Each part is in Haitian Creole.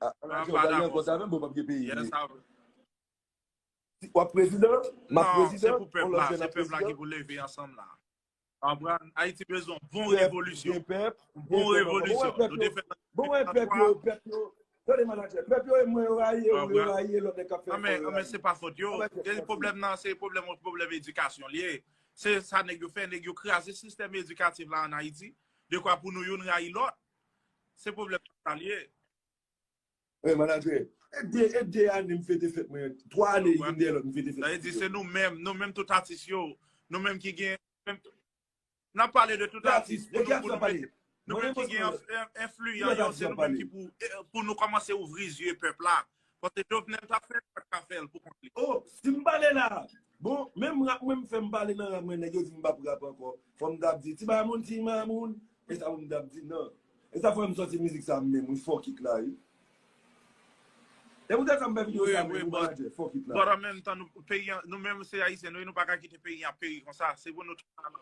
Ah, an Ayiti, yo gade ankò sa menm, bon, pap gen peyi vre. Wap prezidan, map prezidan, on lòt jèn ap prezidan. Non, se pou pèp la, se pèp la ki pou leve ansanm la. Anpran, Ayiti bezon bon revolisyon. Pèp, bon revolisyon. Nou te fè nan 1883. Bon, wè pèp yo, pèp yo, tande manadjè, pèp yo e mwen yo rayi e ou yo rayi e lòt nèg kap fè efò yo rayi. Anmè, se pa fòt yo. E pwoblèm nan, se pwoblèm ou pwoblèm edikasyon li e. Se sa nèg yo fè, nèg yo kraze sistèm edikatif la an Ayiti, dekwa pou nou youn rayi lòt. Se pwoblèm sa l ye. Hey manager, e 2 e 2 ane m fete fèt mwen, 3 ane youn dèyè lòt m fete fèt. Sa vle di se nou menm, nou menm tout atis yo, nou menm ki gen N ap pale de tout atis pou nou pou nou mete Nou menm ki gen enfliyan yo se nou menm ki pou pou nou kòmanse ouvri zye pèp la Kote jovenel tap fè pat ka fèl pou kont li. Oh sim pale la Bon menm rap mwen m fèm pale nan rap mwen nèg yo dim m pap rap ankò fòm tap di ti mamoun ti mamoun esa poum tap di nan esa fòm sòti mizik sa menm wi fuck it la wi se poutèt sa m fè video sa menm wi manadjè fuck it la wi. But an menm tan nou peyi an nou menm se ayisyen nou ye nou paka kite peyi an ap peri konsa se pou nou tout ansanm.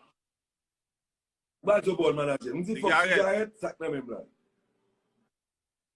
Ou pa di yo ba w manadjè. M di fòk sigarèt, sak nan menm la.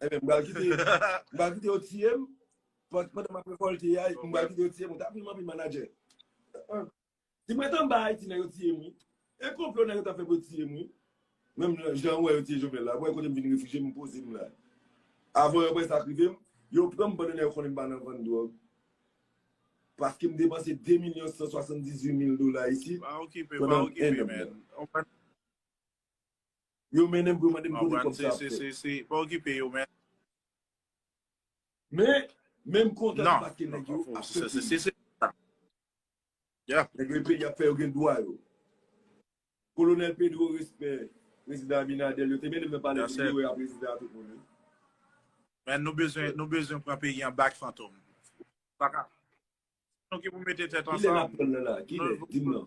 Emen, mwen ba kite yo tiye m, pwant mwen nan mwen volte ya, mwen ba kite yo tiye m, mwen ta pi mwen pi manager. Di mwen tan bay, ti nan yo tiye mwen. E kon vlo nan yo ta fè pou tiye mwen. Men mwen jan wè yo tiye jovenel la, mwen kote mwen vin refije mwen poze mwen la. Avon yo mwen sa krive m, yo pran mwen banan yo konen mwen banan van drog. Paske mwen depanse 2 milyon 178 mil dola isi. Ba okipe, ba okipe men. Yo mennen m pou yo mande m kote kòb sa ap fèt. Pa okipe yo men. Men, men m kontan debake nèg yo ap fè peyi. Nèg yo e peyi y ap fè yo gen dwa yo. Kolonèl Pedro respè Prezidan Abinadèl yo te mennen m nan palè peyi yo e a Prezidan a tout moun wi. Men nou bezwen nou bezwen pran peyi an back Fantom. Paka. Se nou ki pou mete tèt ansanm. Kilè n ap pran l nan la? Kilè? Di m nan.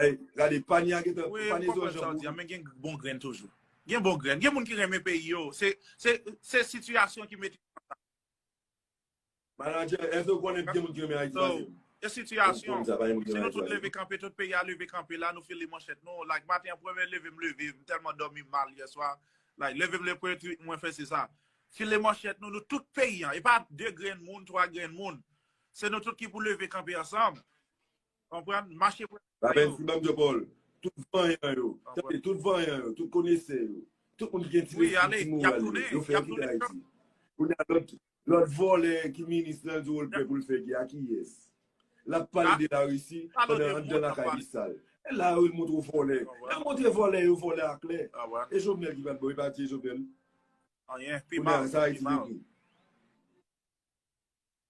Hey, gade panye a gentan, Oui, m panye konprann sa w di a, men gen bon grenn toujou. Gen bon grenn, gen moun ki renmen peyi yo, se, se, se sitiyasyon ki mete yo konsa. Manadjè, èske ou konnen gen moun ki renmen Ayiti pase m? Se sitiyasyon. Si nou tout leve kanpe, tout peyi a leve kanpe la, nou file manchèt nou, like maten an premye leve m leve, m tèlman dòmi mal yè swa, like leve m leve premye tweet mwen fè se sa. File manchèt nou, nou tout peyi an, e pa 2 grenn moun, 3 grenn moun, se nou tout ki pou leve kanpe ansanm. Konprann? Mache pou lavi pa yo. Lapenn Simam Dyopòl, tout vanyan yo, tande, tout vanyan yo, tout konesè yo, tout moun ki gen ti lespri, ti moral yo, yo fè yo kite Ayiti. Kounye a, lòt, lòt vòlè ki minis lan l di w l prè pou l fè gè a, kiyès? L ap pale de Larisi pandan anndan lakay li sal. E la yo vin montre w vòlè. Lè yo montre vòlè yo, vòlè a klè. E Jovenel ki pa t bon, yo pa tiye Jovenel? Anyen, pi mal, pi mal. Kounye a, sa Ayiti vin tou.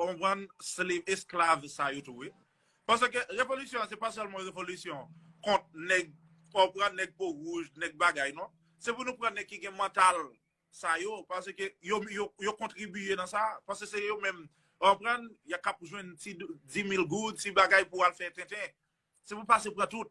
On pran slave, esklav sa yo tou wi. Pase ke revolisyon an se pa selman revolisyon kont neg, on pran neg po rouj, neg bagay non. Se pou nou pran neg ki gen mantal sa yo, pase ke yo kontribiye nan sa. Pase se yo menm, on pran, ya kap jwen ti 10 mil goud, ti bagay pou al fè tenten. Se pou pase pran tout.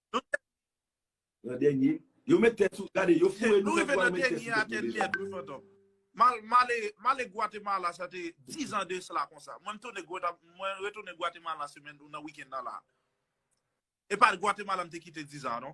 Nou tèt li. Nan dènye. Yo met tèt sou. Gade yo foure nou tèt pou al met tèt sou tèt nou deja. Mal male male Guatemala sa te 10 ans de cela konsa mwen mtounen guata mwen retounen Guatemala semèn nan week-end nan la epa Guatemala mte kite 10 ans non.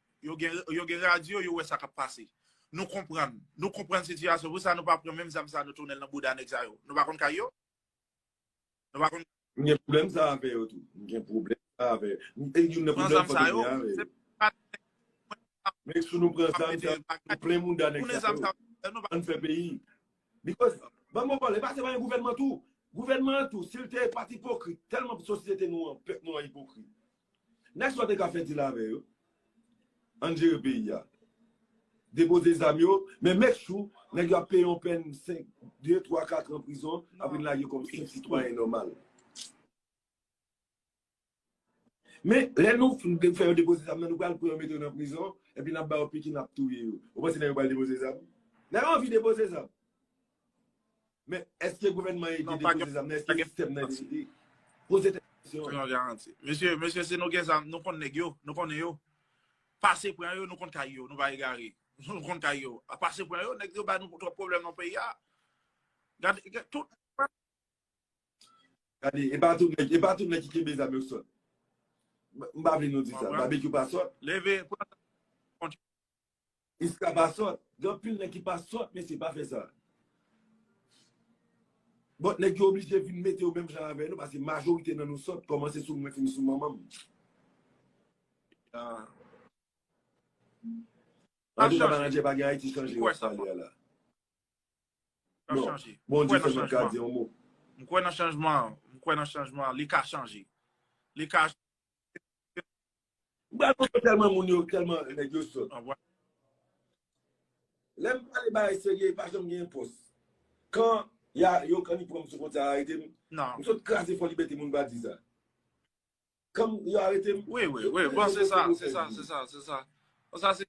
Yo gen radyo, yo wè sa kap pase. Nou konprann. Nou konprann sitiyasyon. Pou sa nou pa pran menm zam sa nou tounen l nan bouda nèg sa yo. Nou pa konn kay yo? Nou pa konn. M gen pwoblèm sa avè yo tou. M gen pwoblèm sa avè yo. E youn nan pwoblèm fantom gen avè yo. Men sou nou pran zam sa, nou plen mouda nèg sa yo. Ann fè peyi. Because, ban m bon pale, pase pa yon gouvènman tou. Gouvènman an tou, si l te pat ipokrit, tèlman sosyete nou an, pèp nou an ipokrit. Next pa te ka fè deal avè yo. Ann jere peyi a. Depoze zam yo, men make sure nèg yo ap peye yon pèn 5, 2, 3, 4 an prizon, ap vin lage yo kòm senp sitwayen nòmal. Men, lè nou fin fè yo depoze zam nan, nou pral pran yo mete yo nan prizon, epi n ap ba yo piki n ap touye yo. Ou panse nèg yo pral depoze zam? Nèg yo anvi depoze zam. Men, eske gouvènman an ede depoze zam nan? Eske sistèm nan ede li? Poze tèt ou kesyon. Pa gen garanti. Mesye, mesye si nou gen zam, nou konn nèg yo, nou konnen yo. Pase pran yo, nou konn kay yo, nou pa egare. Nou konn kay yo. Pase pran yo, nèg yo ba nou twòp pwoblèm nan peyi a. Gade, gade tout. Gade, e pa tout nèg, e pa tout nèg ki kenbe zam yo ki sòt. M pa vle nou di sa. Babekyou pa sòt. Leve, pran zam. Iska pa sòt. Gen anpil nèg ki pa sòt mesye pa fè sa. Bon nèg yo oblije vin mete yo menm jan avè nou pase majorite nan nou sòt kòmanse sou mwen fini sou manmanm. Ah. An tou ka manadjè pa gen Ayiti chanje wap pale a la. Bon, Bondye sèlman ka di yon mo. M kwè nan chanjman, m kwè nan chanjman, li ka chanje. Li ka Mwen pral pran telman moun yo telman nèg yo sòt. Lèm pale bagay serye pa janm gen enpòs. Kan ya yo kan ni pranm sou fwontyè a arete m. M sot kraze fò libète moun pa di sa. Kan yo arete m. Wi wi wi bon se sa se sa se sa se sa. Bon sa se.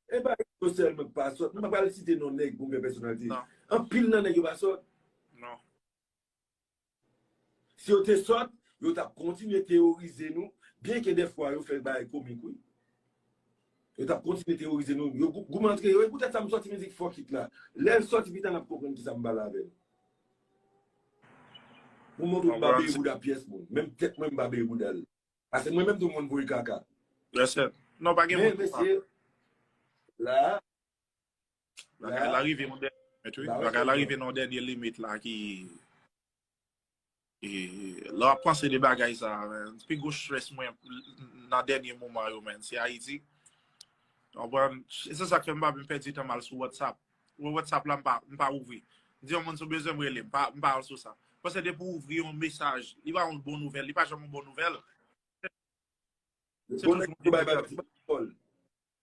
Epa nèg yo selman ki pa sòt. Mwen pa pral site non nèg pou m fè pèsonalite. Anpil nan nèg yo pa sòt. Non. Si yo te sòt, yo tap kontinye teyorize nou, byen ke dè fwa yo fè bagay komik wi. Yo tap kontinye teyorize nou, yo goumen antre yo, e poutèt sa m sòti mizik fuck it la. Lè l sòti pita nap konprann kisa m pale avè nou. Pou montre w m pa beye bouda pyès moun, menm tèt mwen m pa beye bouda l. Pase mwen menm tou m konn voye kaka. Yes sir. Non pa gen moun ki pa. Men mesye, la a, Bagay la rive yon dènye limit wi. Bagay la rive yon dènye limit la ki... E, lè w ap panse de bagay sa, men, pi gwo stress mwen nan dènye moman yo, men, se Ayiti. Ou konprann? E se sa k fè m pa vle pèdi tan m al sou WhatsApp. Mwen WhatsApp la, m pa ouvri. M di yon moun si w bezwen m rele m. M pa al sou sa. Paske depi w ouvri yon mesaj, li pa yon bon nouvèl. Li pa janm yon bon nouvèl. Se toujou yon ti bagay.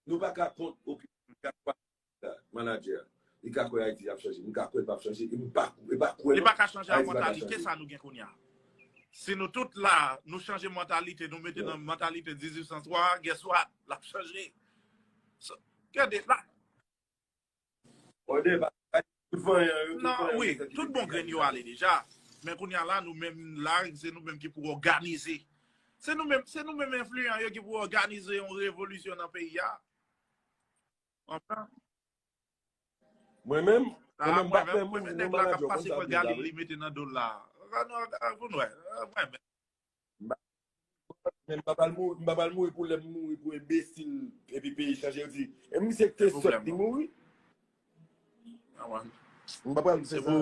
Nou pa ka kont opinyon Jack Wall la, manadjè. Li ka kwè Ayiti ap chanje. M ka kwè l pap chanje e m pa kwè non Ayiti pa ka chanje. Li pa ka chanje a mantalite sa nou gen kounye a. Si nou tout la, nou chanje mantalite nou mete nan mantalite 1803 a, guess what? L ap chanje. Gade, la. Nan, wi, tout bon grenn yo ale deja, men kounye a la nou menm la se nou menm ki pou òganize. Se nou menm, se nou menm enfliyan yo ki pou òganize yon revolisyon nan peyi a. Konprann? Mwen menm, mwen menm bat menm, mwen menm nèg la k'ap pase pran galim li mete nan do'l la. An nou, an nou wè, mwen menm. Men m pa pral mouri, m pa pral mouri pou lèm mouri pou enbesil epi peyi chanje yo di e misye ki te sòt li mouri. M pa pral fè sa.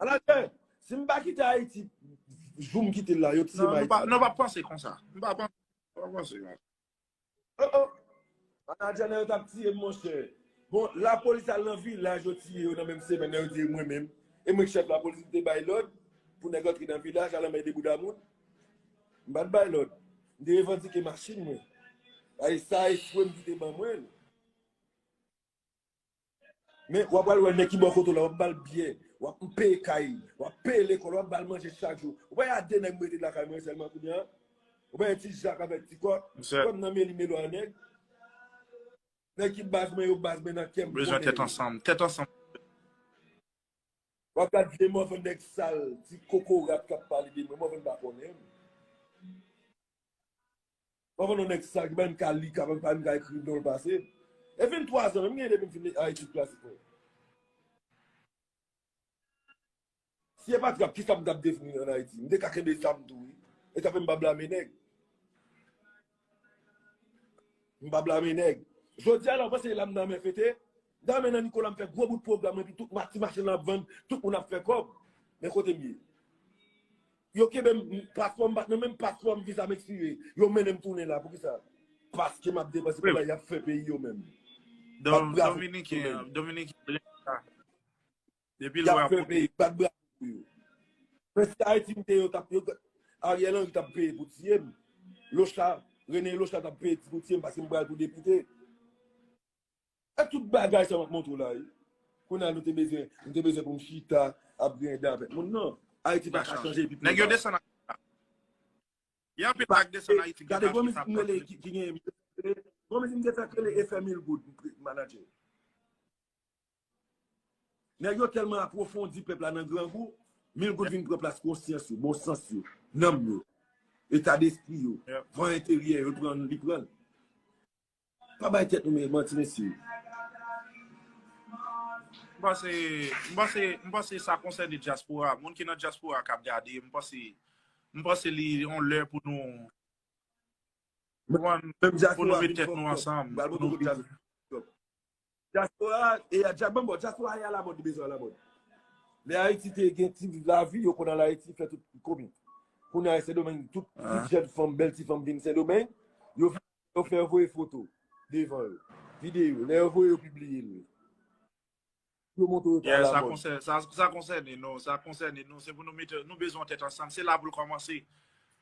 Anatè, si m pa kite Ayiti jou m kite l la yo tire m Ayiti. Non, nou pa panse konsa. Nou pa panse konsa. Oh oh! Anadjana yo tap tiye m monchè. Bon lapolis al nan vilaj yo tiye yo nan menm semèn nan yo tiye mwen menm. E mwen ki chèf lapolis m te bay lòd pou nèg antre nan vilaj al anmède bouda moun? M pat bay lòd. M te revandike machin mwen. Sa echwe m ki te ban mwen l. Men wap pral wè nèg ki bò kote w la, wap bal biyè, wap peye kay, wap peye lekòl, wap bal manje chak jou. Ou pa wè a 2 nèg m rete lakay mwen sèlman kounye a? Ou pa wè ti Jak avèk ti Kò? Kò m nan meli melo a nèg. Nèg ki baz mwen yo baz mwen nan kè m konnen yo. Bezwen tèt ansanm, tèt ansanm. Wap gad vye mòvèn nèg sal, ti kokorat kap pale de mwen, mòvèn pa konnen m. Mwen konn yon nèg sal ki pa menm ka li ka pa menm ka ekri nonl pase. E fin 3 zan menm genyen depi m fin nan etid klasik mwen. Si e pat rap ki sa m tap devni an Ayiti? M te ka kenbe zam tou wi. E sa fè m pa blame nèg. M pa blame nèg. Jodi a la ou panse la m nan men fete? Dame nan Nicolas m fè gwo bout pwogram epi tout mati machin lan ap vann tout moun ap fè kòb men kote m ye yo kenbe m paspò m pat nan menm paspò m viza m ekspire yo mennen m tounen la poukisa paske m ap depanse pou bagay y ap fè peyi yo menm bat bravo pou yo y ap fè peyi bat bravo pou yo men si ayiti m te yo tap yo Ariel Henry tap peye pou tiye m locha Rene locha tap peye pou tiye m paske m pral pou depite. Sa tout bagay sa map montre w la ye. Kounye a nou te bezwen, nou te bezwen pou m chita ap grinde avèk moun nan. Ayiti pa ka chanje epi pou yo pa chanje. Gen anpil bagay ki desann Ayiti ki pa chanje. Gade gwo mizik m rele ki gen gwo mizik m te fè ki rele efè mil goud manager. Nèg yo tèlman apwofondi pèp la nan grangou, mil goud vin pran plas konsyans yo, bon sans yo, nanm yo, eta despri yo, van enteryè yo pran li pran l. Pa bay tèt nou manti mesye. M panse, m panse, m panse sa konsène dyaspora. Moun ki nan dyaspora kap gade, m panse, m panse li yon lè pou nou, pou nou met tèt nou ansanm, pou nou. Diaspora a e a djab bon diaspora a e a la mode bezwen a la mode. Lè Ayiti te gen ti viv la vi yo konn al Ayiti fè tout komi. Kounye a Sendomeng tout ti jèn fanm bèl ti fanm vin Sendomeng yo vin yo fè yo voye foto devan yo. Videyo lè yo voye yo pibliye l. Yo montre yo ta a la mode. Yes sa sa konsène nou sa konsène nou se pou nou mete nou bezwen yon tèt ansanm se la pou l kòmanse.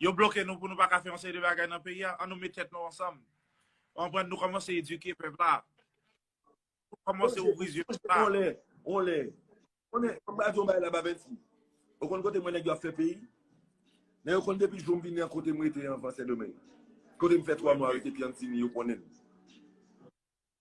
Yo bloke nou pou nou pa ka fè yon seri de bagay nan peyi a an nou met tèt nou ansanm Ou konprann? Nou kòmanse edike pèp la. Nou kòmanse ouvri zye pèp la. Onlè, onlè. Onlè, mwen ba di yon bagay la Babenti. Ou konn kote mwen nèg yo ap fè peyi? Nèg yo konn depi jou m vini an kote m rete anvan Sendomeng. Kote m fè 3 mwa rete Piantini, yo konnen.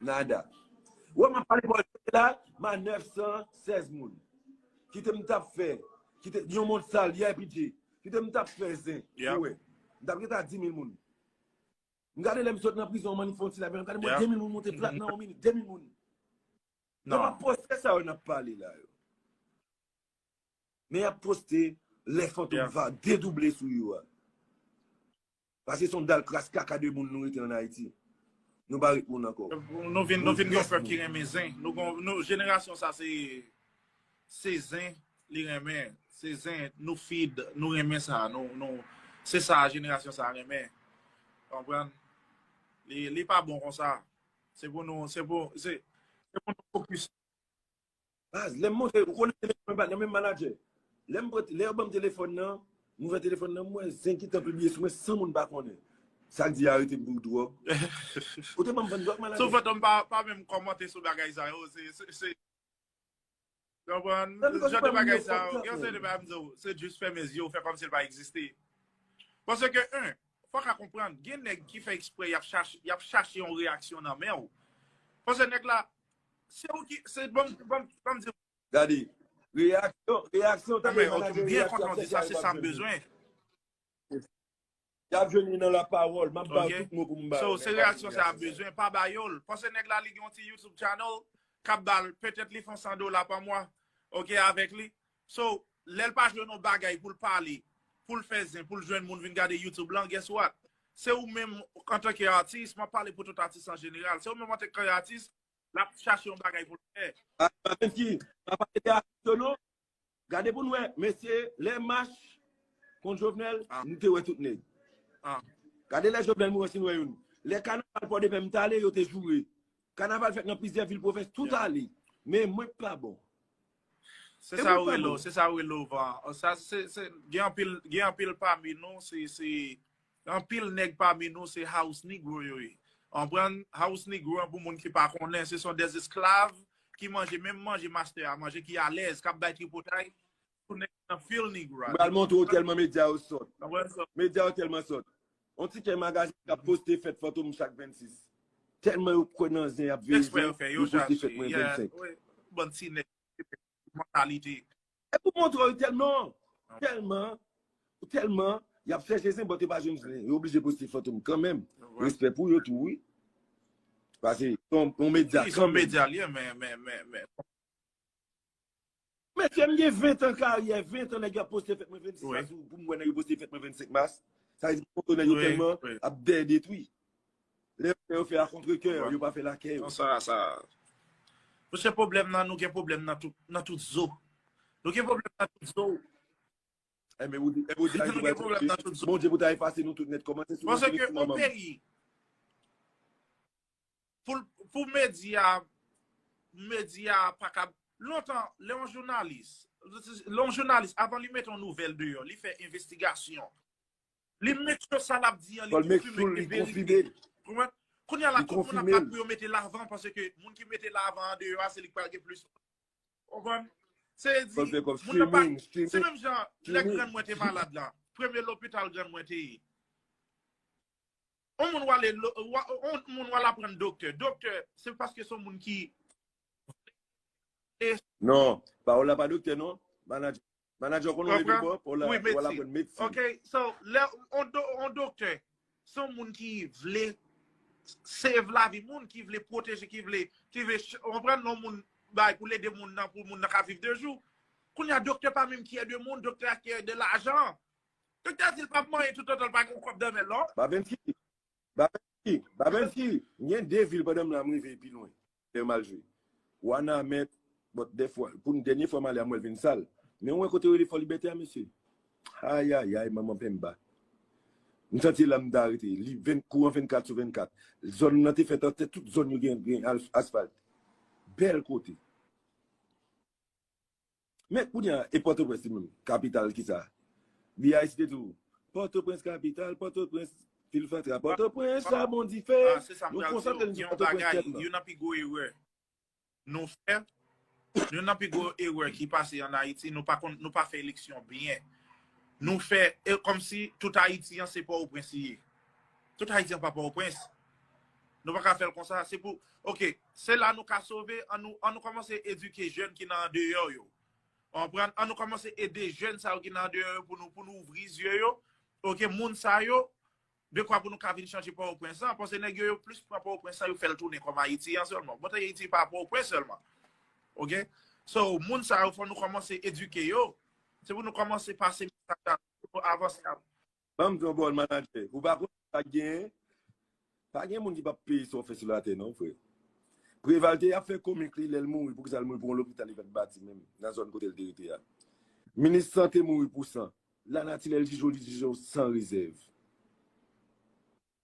Nada. Wè map pale bòl se la ma 916 moun. Kite m tap fè. Kite yon moun sal yè pidje. Kite m tap fè zen. Ou wè. M tap gen ta 10000 moun. M gade lè m sot nan prizon man ni fon ti la men. M gade mwen 2000 moun monte plat nan yon minit. 2000 moun. Nan. Nan pa poste sa yo nap pale la yo. Men yap poste lè fantom va dedouble sou yo a. Paske son dal kras kaka de moun nou rete an Ayiti. Nou pa ret moun ankò. Nou vin yon pèp ki renmen zen. Nou jenerasyon sa se se zen li renmen. Se zen nou feed, nou renmen sa. Se sa jenerasyon sa renmen. Konprann? Li pa bon konsa. Se pou nou se pou nou fokis. Baz, lè m monte, ou konnen se menm nan menm manager. Lè m pran, lè yo ban m telefòn nan, m ouvè telefòn nan, m wè zen ki tan pibliye sou mwen san moun pa konnen. Sa k di yo arete m pou dwòg? Ou te ban m vann dwòg manager? Sou fantom pa pa menm kòmante sou bagay sa yo, se, se, se. Konprann? Nan bikòz ou pa moun yo fòk sa. Gen yon seri de bagay m di w, se jis fèmen zye w, fè kòmsi l pa egziste. Paske 1, fòk a konprann, gen nèg ki fè eksprè y ap chache, y ap chache yon reyaksyon nan men w. Paske nèg la, Se ou ki, se banm, banm, banm di. Gade, reyaksyon, reyaksyon tande manager yo yap fè sa yo pap jwenn. Yap jwenn li nan la pawòl, map ba ou tout mo pou m ba ou. So, se reyaksyon sa yap bezwen, pa ba yo l. Pase nèg la li gen yon ti YouTube channel kap ba l, petèt li fon 100 dola pa mwa, ok avèk li. So, lèl pa jwenn yon bagay poul pale, poul fè zen, poul jwenn moun vin gade YouTube lan, guess what? Se ou menm antanke atis, map pale pou tout atis an jeneral, se ou menm antanke atis, lap chache yon bagay poul fè. Atis ki, pa pale de atis yo non. Gade pou nou wè, mesye, lè mach kont Jovenel, nou te wè tout nèg. Gade lè Jovenel mouri an si nou wè youn. Lè kanaval Pòdepè m tale, yo te joure. Kanaval fèt nan plizyè vil pwovens tout ale. Men mwen k pa bon. Se sa ou rele w, se sa ou rele w van. Gen anpil pami nou, se anpil nèg pami nou se house negro yo ye. Anprann, house negro an pou moun ki pa konnen, se son des esklav ki manje menm manje mastè a manje ki alèz, k ap bay tripotay. Mwen pral montre ou telman medya yo sòt. Medya yo telman sòt. On ti kè magazin kap poste fèt fantom chak 26. Telman yo kwè nan zen yap veye zen, yo poste fèt mwen 25. Bon ti nèg mantalite. E pou montre ou telman, telman, telman yap chèche zen but yo pa jwenn zen. Yo oblije poste fantom kanmenm. Respè pou yo tou wi. Pase yon medya kanmenm. Yon medya liye men, men, men, men. Mesye m gen 20 an karyè, 20 an nèg yo ap poste fèt mwen 26 mas ou pou m wè nèg yo poste fèt mwen 25 mas. Sa vle di foto nèg yo tèlman ap dèyè detwi. Lè yo fè a kontre kè, yo pa fè l a kè yo. Sa sa. Mesye pwoblèm nan nou gen pwoblèm nan tout nan tout zo. Nou gen pwoblèm nan tout zo. E men ou di e ou di Ayiti pral chanje. Bondye pou ta efase nou tout nèt kòmanse sou nou se nou ki manman nou. Pou medya, medya pa kab, lontan, lè yon jounalis, lè yon jounalis, avan li mete yon nouvèl deyò, li fè envestigasyon, li make sure sa lap di an, li konfime li verite. Kounye a la, tout moun ap bat pou yo mete lavan, pase ke moun ki mete lavan an deyò a, se li ki pral gen plis. Konprann? Se di, moun nan pa, se menm jan, lè grann mwen te malad la, premye lopital grann mwen te ye. On moun wale on moun wale aprann doktè. Doktè se paske son moun ki Non, Paola pa doktè non. Manager. Manager konnen ou mete bon, Paola wale aprann medsin. Ok, so lè on doktè son moun ki vle save la vi moun, ki vle pwoteje, ki vle on pran non moun bay pou lede moun nan pou moun nan ka viv de jou. Kounye a doktè pa menm kiyè de moun, doktè a kiyè de lajan. Doktè di l pap manyen toutotan l pa gen yon kòb danmen l lò. Babemki, Babemki, Babemki, m gen 2 vil pandan m la m rive pi lwen lè yo mal jwe. Wanament, Bon, dèfwa, pou n dènye fwa m ale a m wè l vin sal. Men ou wè kote yo rele Fòlibète a, mesye? Ayayay, manman Penmba! M santi se la m ta rete. Li ven, kouran 24 sou 24. Zòn lan te fèt an tè, tout zòn yo gen, gen asfalt. Bèl kote! Men kounya e pòtoprens li menm kapital kisa li a esite tou pòtoprens kapital pòtoprens vil fatra pòtoprens chabon dife nou konsantre nou sou pòtoprens tèt lan. Yon nan pi gwo erè nou fè yon nan pi gwo erè ki pase an ayiti nou pa konn nou pa fè eleksyon byen nou fè kòmsi tout ayiti an se pòtoprens li ye tout ayiti an pa pòtoprens Nou pa ka fè l konsa. Se pou, ok, se la nou ka sove, an nou kòmanse edike jèn ki nan andeyò yo. Ou konprann? An nou kòmanse ede jèn sa yo ki nan andeyò yo pou nou ouvri zye yo. Ok, moun sa yo, dekwa pou nou ka vin chanje Pòtoprens lan. Pase nèg yo, yo plis pran Pòtoprens lan, yo fè l tounen kòm Ayiti an sèlman. Bon, Ayiti pa Pòtoprens sèlman. Ok? So, moun sa yo, fò nou kòmanse edike yo. Se pou nou kòmanse pase mesaj la pou yo avanse. Banm di w bon manager, ou pa konn sak genyen? Pa gen moun ki pap peye sa w fè sou latè non frè. Preval te ap fè komik li lèl mouri poukisa l mouri pou yon lopital li pat bati menm nan zòn kote l te rete a. Minis sante mouri pou san. Lanati lèl jije w li jije w san rezèv.